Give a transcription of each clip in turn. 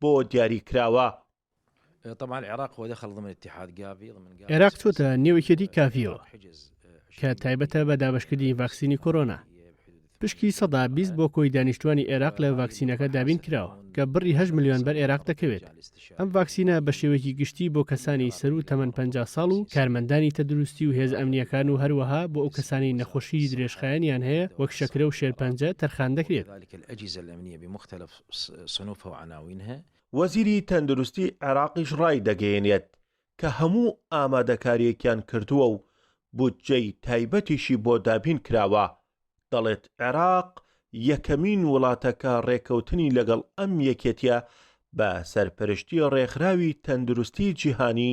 بۆ دیاری کراوە. عێراق چۆتە نێو یەکێتی کافیەوە کە تایبەتە بە دابشکردنی ڤاکسینی کۆرۆنا پشکی سەدا بیست بۆ کۆی دانیشتوانی عێراق لە ڤاکسینەکە دابین کراوە کە بڕی هە ملیۆن بەر عێراق دەکەوێت ئەم ڤاکسینە بە شێوەیەکی گشتی بۆ کەسانی سەر و تەمەەن 50 ساڵ و کارمەندانی تەدروستی و هێز ئەمنیەکان و هەروەها بۆ ئەو کەسانی نەخۆشی درێژخایەنیان هەیە وەک شەکرە و شێرپەنجە تەرخان دەکرێت صنوف و عناوین هەیە. وەزیری تەندروستی عێراقیش ڕایدەگەیەنێت کە هەموو ئامادەکارییەکیان کردووە و بودجەی تایبەتیشی بۆ دابین کراوە، دەڵێت عێراق یەکەمین وڵاتە کە ڕێکەوتنی لەگەڵ ئەم یەکێتییە بە سەرپەرشتی ڕێکخراوی تەندروستی جیهانی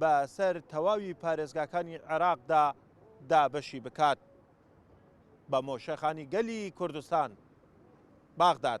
بە سەر تەواوی پارێزگاکانی عێراقدا دابەشی بکات بە مۆشەخانی گەلی کوردستان. باغداد.